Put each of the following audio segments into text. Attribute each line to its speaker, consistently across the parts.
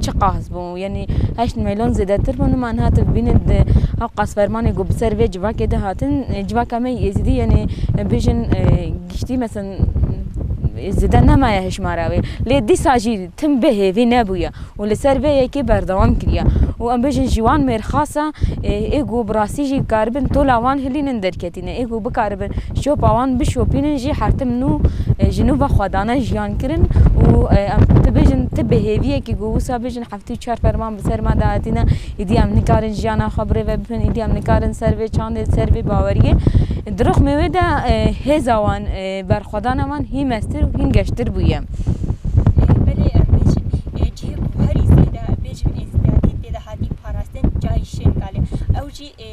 Speaker 1: Çi qas bû? Yanî heşt mîlyon zêdetir bû. Nima niha tu bibînî di hev qasfermanê ku bi ser vê civakê de hatin, civaka me Êzidî yanî bêjin giştî mesela zêde nemaye hişmara wê. Lê dîsa jî tim bê hêvî nebûye û li ser vê yekê berdewam kiriye û em bêjin ji wan mêrxasa ê ku bi rastî jî dikaribin tola wan hilînin derketî. Tîne ê ku bikaribin şopa wan bişopînin jî hertim nû ji nû ve xwe dane jiyan kirin û em tu bêjin ti bi hêviyekî ku wisa bêjin heftê û çar ferman bi ser me de hatine îdî em nikarin jiyana xwe birêve bibin îdî em nikarin ser vê çandê ser vê baweriyê di rixmê wê de hêza wan berxwedana wan hîn meztir û hîn geştir bûye. Belê em bêjin ê cihê ku herî zêde bêjin ê zîyadî tê de hatî parastin cayî şên galê ew jî ê.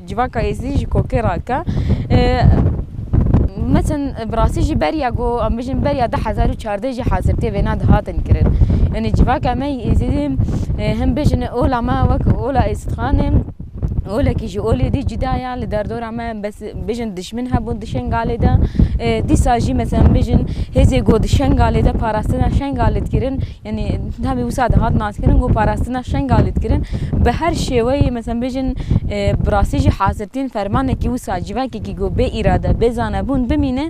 Speaker 1: Civaka Êzidî ji kokê rake metin bi rastî jî beriya ku em bijîn beriya du hezar û çardeh jî hezirtiyê vêna di hatin kirin. Yanî civaka me yê Êzidî him bijîn ola me wek ola Êzidxanê olekî ji olê dî cuda ye li derdora me bes bijîn dişmin hebûn di Şengalê de dîsa jî meselem bijîn hêzê ku di Şengalê de parastina Şengalê dikirin, Yanî hemî wisa de hat naskirin ku parastina Şengalê dikirin bi her şêweyê meselem bêjin bi rastî jî hazirtîn fermanekî wisa civakekî ku bê îrade, bê zanebûn bimîne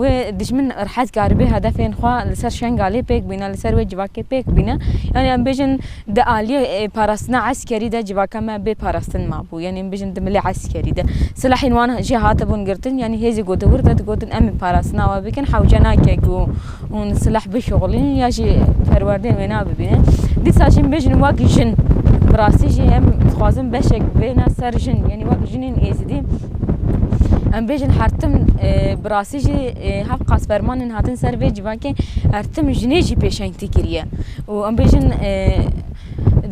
Speaker 1: wê dijmin rehet karibê hedefên xwe li ser Şengalê pêk bîne, li ser wê civakê pêk bîne. Yanî em bêjin di aliyê parastina eskerî de civaka me bê parastin mabû. Yanî em bêjin di milê eskerî de silahên wan jî hatibûn girtin yanî hêzê ku di wir de digotin em ê parastina we bikin hewce nake ku Hûn silah bişuxulînin ya jî perwerdeyên wê nabibînin. Dîsa jî mijin wek jin. Bi rastî jî em dixwazin beşek bêne ser jin yanî wek jinên êzidî em bêjin hertim e, bi rastî jî e, hev qas fermanên hatin ser vê civakê hertim jinê jî pêşengtî kiriye û em bêjin e,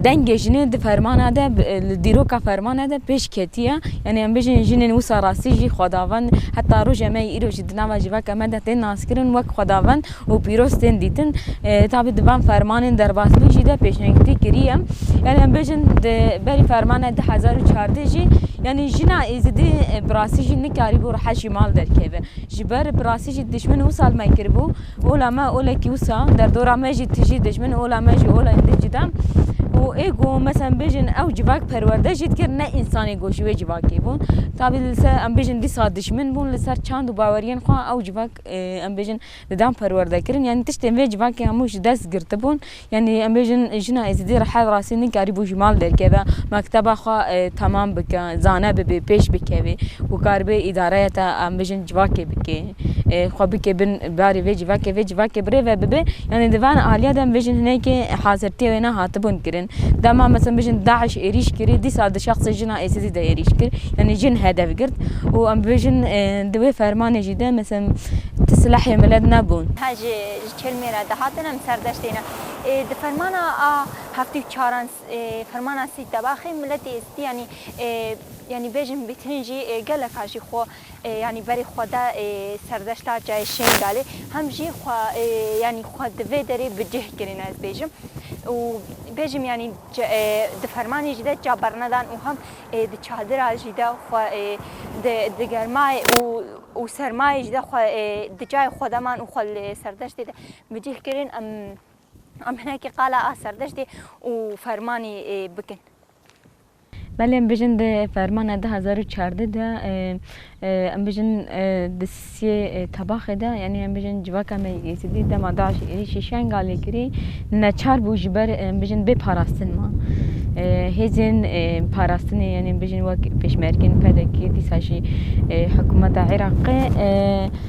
Speaker 1: Dengê jinê di fermana de li dîroka fermana de pêş ketiye. Yanî em bijîn jinên wisa rastî jî xwedavend heta roja me yî îro jî di nava civaka me de tên naskirin wek xwedavend û pîroz tên dîtin. Tabî di van fermanên derbasbûn jî de pêşengtî kiriye. Yanî em bijîn di berî fermana du hezar û çardeh jî yanî jina êzidî bi rastî jî nikarîbû rehet jî mal derkeve. Ji ber bi rastî jî dişmin wisa li me kiribû. Ola me olekî wisa derdora me jî tijî dijmin ola me jî olayên din cuda û ê ku meselem bijin ew civak perwerde jî dikir ne însanê ku ji wê civakê bûn tabî li ser em bijin dîsa dijmin bûn li ser çand û baweriyên xwe ew civak em bijin didan perwerdekirin yanî tiştên vê civakê hemû ji dest girtibûn Yanî em bêjin jina Êzidî rehet rastî nikarîbû ji mal derkeve, mekteba xwe temam bike, zane bibe, pêş bikeve û karibê îdareya te em bêjin civakê bike, xwe bike bin barê vê civakê, vê civakê bi rê ve bibe. Yanî di van aliye de em bêjin hinekî hazirtiyê wê ne hatibûn kirin. Dema mesa em bêjin DAIŞ êrîş kirî, dîsa di şexsê jina Êzidî de êrîş kir, yanî jin hedef girt û em bêjin di wê fermanê jî de mesa em ti silahê milet nebûn. Hajî Çelmê re dihatin em serdeştê ne. Di fermana a heftê û çaran fermana sî tebaxê miletê stî yanî yanî bêjin bîtin jî geleka jî xwe yanî berê xwe de serdeşta çayê Şêngalê hem jî xwe yanî xwe di vê derê bi cih kirîn ez bêjim û bêjim yanî di fermanê jî de ça bernedan û hem ê di çadira jî de xwe ê di di germayê û û sermayê jî de xwe ê di cayê xwe de man û xwe li Serdeştê de bi cih kirin em em hinekî qala a Serdeştê û fermanî bikin. Belê em bijin di fermana du hezar û çardeh de Em bijîn di siyê tebaxê de yanî em bijîn civaka me yê Êzidî dema DAIŞ'ê êrîşî Şengalê kirî neçar bû ji ber em bijîn bê parastin ma. Hêzên parastinê yanî em bijîn wek pêşmergên PDK'ê dîsa jî hikûmeta Iraqê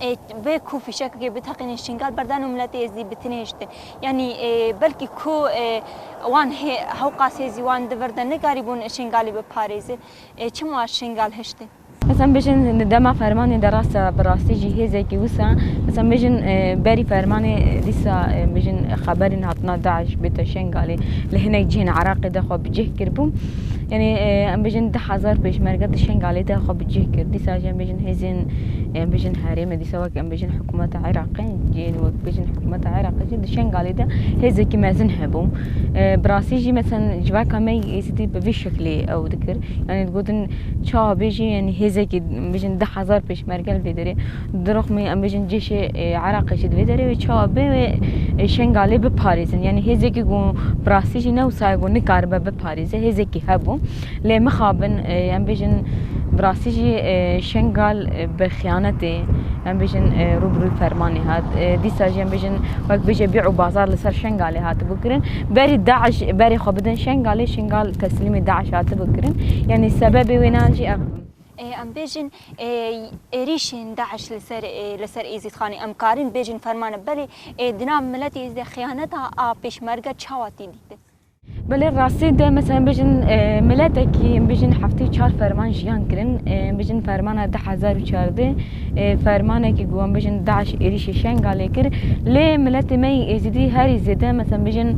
Speaker 1: Ê vê ku fîşekekê biteqînin Şingal berdan û miletê Êzidî bitinêjtin. Yanî belkî ku wan hê hewqas hêzî wan divirde nekarîbûn Şingalî biparêzin. Ê çima Şingal hiştin? Mesela em bêjin di dema fermanê de rast e, bi rastî jî hêzekî wisa mesela bêjin berî fermanê dîsa bêjin xeberên hatina DAIŞ bête Şingalê li hinek cihên Iraqê de xwe bi cih kiribû. Yanî em bêjin du hezar pêşmerge di Şengalê de xwe bi cih kir. Dîsa jî em bêjin hêzên em bêjin herêmê dîsa wek em bêjin hikûmeta Iraqê yên wek bêjin hikûmeta Iraqê jî di Şengalê de hêzekî mezin hebû. Bi rastî jî mesen civaka me Êzidî bi vî şeklê ew dikir. Yanî digotin çawa bêjin yanî hêzekî em bêjin du hezar pêşmerge li vê derê. Di rixmê em bêjin cêşê Iraqê jî di vê derê wê çawa bê wê Şengalê biparêzin. Yanî hêzekî ku bi rastî jî ne wisa ye ku nikaribe biparêze hêzekî hebo. Lê mixabin em bêjin bi rastî jî Şengal bi xiyanetê em bêjin rû bi rûyê fermanê hat. Dîsa jî em bêjin wek bêje bî û bazar li ser Şengalê hatibû kirin. Berî DAIŞ berê xwe bidin Şengalê Şengal teslîmê DAIŞ hatibû kirin. Yanî sebebê wêne an jî ev. Em bêjin êrîşên DAIŞ li ser li ser Êzîdxanê em karin bêjin fermane belê di nav miletê Êzidê de xiyaneta a pêşmerge çawa tê dîtin? Belê rastî de mesela em bêjin miletekî em bêjin heftê û çar ferman jiyan kirin em bêjin fermana di hezar û çardeh. fermanekî ku wan bijîn DAIŞ êrîşî Şengalê kir lê miletê me yê Êzidî herî zêde meselem bijîn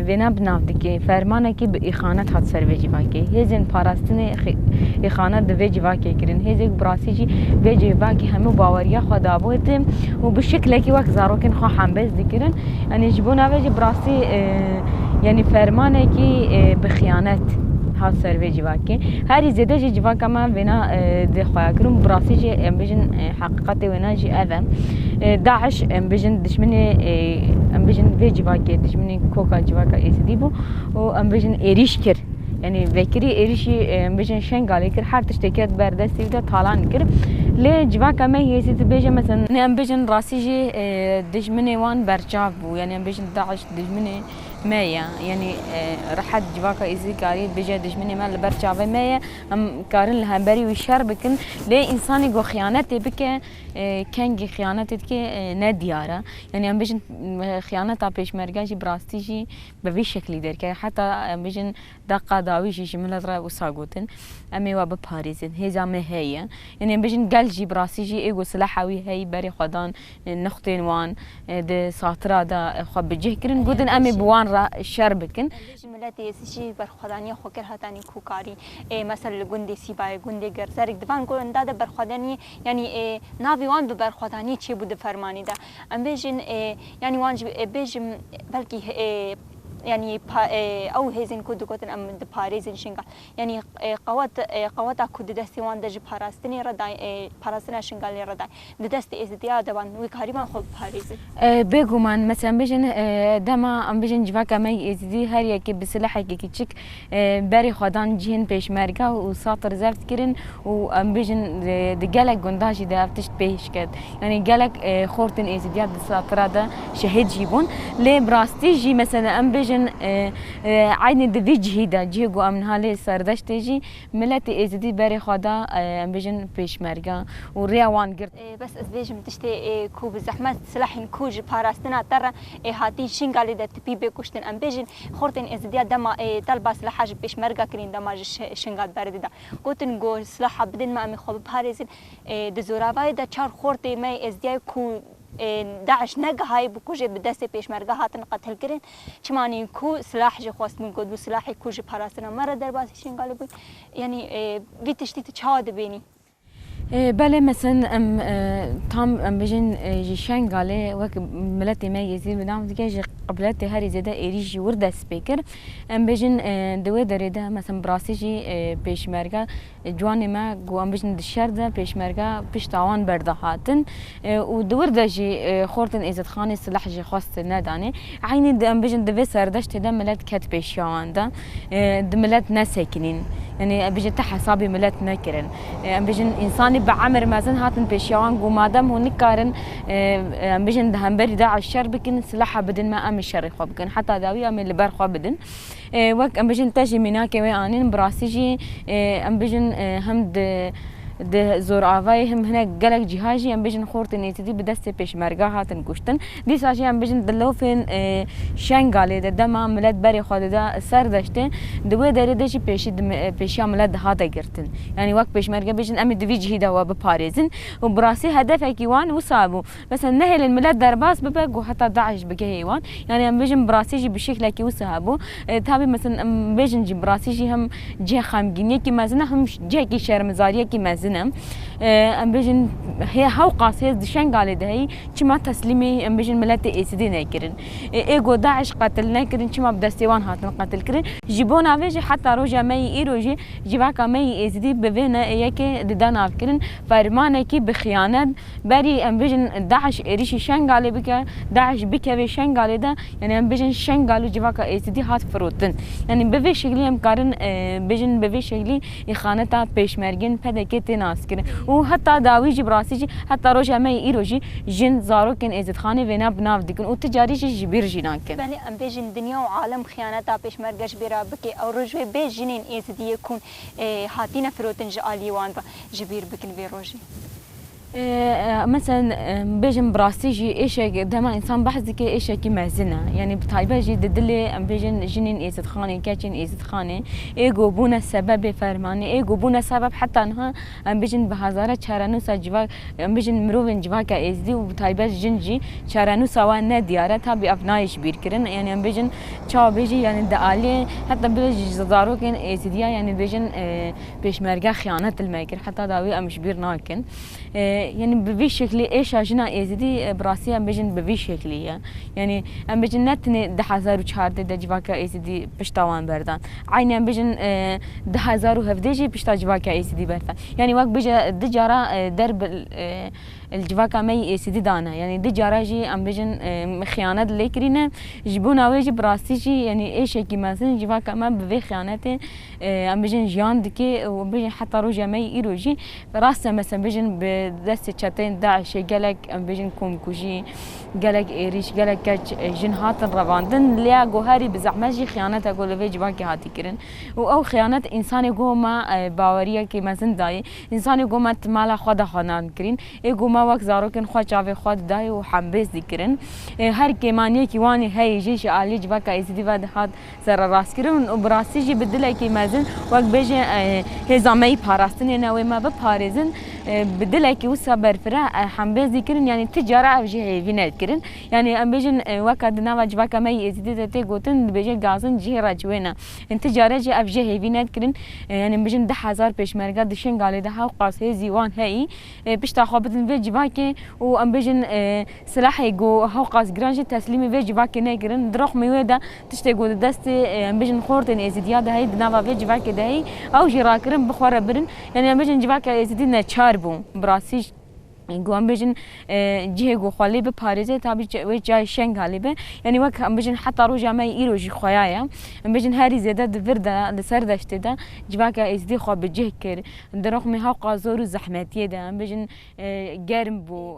Speaker 1: vêna bi nav dike. Fermanekî bi îxanet hat ser vê civakê. Hêzên parastinê îxanet di vê civakê kirin. Hêzê ku bi rastî jî vê civakê hemû baweriya xwe dabûye tim û bi şiklekî wek zarokên xwe hembêz dikirin. Yanî ji bo navê jî bi rastî yanî fermanekî bi xiyanet hat ser vê civakê. Herî zêde jî civaka me vêna dê xweya kir û bi rastî jî em bijîn heqîqetê wêna jî ev e. Daiş em bijîn dijminê em bijîn vê civakê dijminê koka civaka Êzidî bû û em bijîn êrîş kir. Yanî vekirî êrîşî em bijîn Şengalê kir her tiştê ket ber destê wî de talan kir. Lê civaka me Êzidî dibêje mezin em bijîn rastî jî dijminê wan berçav bû. Yanî em bijîn daiş dijminê me ye. Yanî rehet civaka Êzidî karî bije dijminê me li ber çavê me ye. Em karin li hemberî wî şer bikin. Lê însanî ku xiyanetê bike kengî xiyanetê dike ne diyar e. Yanî em bijin xiyaneta pêşmerge jî bi rastî jî bi vî şeklî derkeve. Heta em bijin Deqa dawî jî ji min re wisa gotin, Em ê we biparêzin, hêza me heye. Yan em bijîn gel jî bi rastî jî ê ku sileha wî heye berê xwe dan nixtên wan, di satira de xwe bi cih kirin, gotin em ê bi wan re şer bikin. Em bêjin miletê Êzidî jî berxwedaniya xwe kir heta nîkokarî. Ê mesela li gundê Sîbayê, gundê Gerzerîk di van gunda de berxwedaniyê yanî ê navê wan bi berxwedaniyê çêbû di fermanê de. Em bêjin ê yanî wan jî ê bêjin belkî ê Yanî ew hêzên ku digotin em diparêzin Şingal, yanî qewet qeweta ku di destê wan de ji parastinê re da parastina Şingalê re da di destê Êzidiya de wan, wê kariban xwe biparêzin. Bêguman, mesela em bêjin dema em bêjin civaka me yê Êzidî her yekê bi silahekî kiçik Berê xwedan cihên pêşmerge û satr zeft kirin û em bijin di gelek gundan jî de ev tişt pêş ket. Yanî gelek xort ên êzidiya di satira de şehîd jî bûn. Lê bi rastî jî mesela em bijin eynî di vî cihî de cihê ku em niha lê serdeştê jî miletê êzidî berê xwe da em bijin pêşmerge û rêya wan girt. Bes ez bêjim tiştê ku bi zehmet silahên ku ji parastina te re hatîn Şingalê de tipî bê kuştin em bêjin Xortên Êzidiya dema ê telba silaha ji pêşmerga kirîn dema ji şinga berdê de gotin ku silaha bidin me em ê xwe biparêzin. Di zoravayê de çar xortê me yê Êzidiyayê ku DAIŞ negihayî bû kujê bi destê pêşmerga hatin qetilkirin. Çima anî ku silah jê xwestibûn got bû silahê ku ji parastina me re derbasî şingalê bû. Yanî vî tiştî tu çawa dibênî? Belê meseln em tam em bijîn ji Şengalê wek miletê me Yezîd bi nav dike ji qibletê herî zêde êrîş ji wir dest pê kir. Em bijîn di wê derê de meseln bi rastî jî pêşmerge ciwanê me ku em bijîn di şer de pêşmerge pişta wan berdihatin. û di wir de jî xortên Êzidxanê sileh jê xwest nedanê. Eynî em bijin di vê serdeştê de milet ket pêşiya wan de. Di milet nesekinîn. Yanî em bijin ti hesabê milet nekirin. Em bijin însanî bi emir mezin hatin pêşiya wan ku madem hûn nikarin em bijin di hemberî DAIŞ şer bikin, sileha bidin me em ê şerê xwe bikin. Heta dawî em ê li ber xwe bidin. Wek em bijîn te jî mînakê wê anîn bi rastî jî em bijîn hem di di zoravayî hem hinek gelek cîha jî em bijîn xortên Êzidî bi destê pêşmerge hatin kuştin. Dîsa jî em bijîn di lofên Şengalê de dema milet berê xwe dida ser deştê di wê derê de jî pêşî pêşiya milet dihate girtin. Yanî wek pêşmerge bijîn em ê di vî cihî de we biparêzin û bi rastî hedefekî wan wisa bû. Mesela nehêlin milet derbas bibe ku heta DAIŞ bigihê wan. Yanî em bêjin bi rastî jî bi şeklekî wisa hebû. Tabî mesela em bêjin jî bi rastî jî him cihê xemgîniyekî mezin e him cihekî şermizariyekî mezin e. Em bêjin hê hewqas hêz di Şengalê de heyî çima teslîmê em bêjin miletê Êsidê nekirin. Ê ku DAIŞ qetil nekirin çima bi destê wan hatin qetilkirin. Ji bona vê jî heta roja me yî îro jî civaka me yî Êzidî bi vê neyê yekê dide navkirin fermanekî bi xiyanet. Berî em bijîn DAIŞ êrîşî Şengalê bike, DAIŞ bikeve Şengalê de, yanî em bijîn Şengal û civaka Êzidî hat firotin. Yanî bi vê şeklî em karin bijîn bi vê şeklî îxaneta pêşmergên PDK'ê tê naskirin û heta dawî jî bi rastî jî heta roja me yê îro jî jin zarokên Êzidxanê vêna bi nav dikin û ti carî jî ji bîr jî nakin. Belê em bêjin dinya û alem xiyaneta pêşmerge ji bîr re bike ew roj wê bê jinên Êzidiyê ku hatîne firotin ji aliyê wan re ji bîr bikin vê rojê. Meseln bêjin bi rastî jî êşek dema însan behs dike êşekî mezin e. Yanî bi taybet jî di dilê em bêjin jinên êzidxanê, keçên êzidxanê êgo bûne sebebê fermanê, êgo bûne sebeb heta niha em bêjin bi hezare çarenûsa civak em bêjin mirovên civaka êzidî û bi taybet jin jî çarenûsa wan ne diyar e. Tabî ev nayê ji bîr kirin. Yanî em bêjin çawa bêjî yanî di aliyê heta bêjin ji zarokên êzidî ya yanî bêjin Pêşmerge xiyanet li me kir, heta dawî em ji bîr nakin. Yanî bi vî şeklî êşa jina Êzidî bi rastî em bijin bi vî şeklî ye. Yanî em bijin ne tenê di hezar û çardeh de civaka Êzidî pişta wan berdan. Eynî em bijin di hezar û hevdeh jî pişta civaka Êzidî berdan. Yanî wek bije di cara der bi li civaka me yî Êzidî dane. Yanî di cara jî em bijin xiyanet lê kirîne. Ji bona wê jî bi rastî jî yanî êşekî mezin civaka me bi vê xiyanetê Em bijîn jiyan dike û em bijîn heta roja me yê îro jî rast e mes em bijîn bi destê çeteyên DAIŞ'ê gelek em bijîn komkujî, gelek êrîş, gelek keç jin hatin revandin lê ya ku herî bi zehmet jî xiyanet e ku li vê civankê hatî kirin û ew xiyanet însanê ku me baweriyekê mezin dayê, însanê ku me di mala xwe de xwe nan kirîn ê ku me wek zarokên xwe çavê xwe didayê û hembêz dikirin. Her kêmaniyekî wan heye jî ji aliyê civaka Êzidî ve dihat. sererastkirin û bi rastî jî bi dilekî mezin wek bêjin hêza me yî parastinê ne wê me biparêzin bi dilekî wisa berfireh ehembêzî kirin yanî ti cara ev jî hêvî ne kirin yanî em bêjin weka di nava civaka me yî êzîdî de tê gotin dibêjin gazin cihê re ci wê ne yanî ti care jî ev jê hêvî ne kirin yanî em bêjin di hezar pêşmerge di şingalê de hewqas hêzî wan heyî pişta xwe bidin vê civakê û em bêjin silahê ku hewqas giran jî teslîmê vê civakê ne kirin di roxmî wê de Tiştê ku di destê em bijin xortên Êzîdiya de heye di nava vê civakê de heye ew jî rakirin bi xwe re birin. Yanî em bijin civaka Êzîdî neçar bû bi rastî jî ku em bijin cihê ku xwe lê biparêze tabî wê cayê şenga lê be. Yanî wek em bijin heta roja me yê îro jî xuya ye. Em bijin herî zêde di vir de li ser deştê de civaka Êzîdî xwe bi cih kir. Di rixmê heqa zor û zehmetiyê de em bijin germ bû.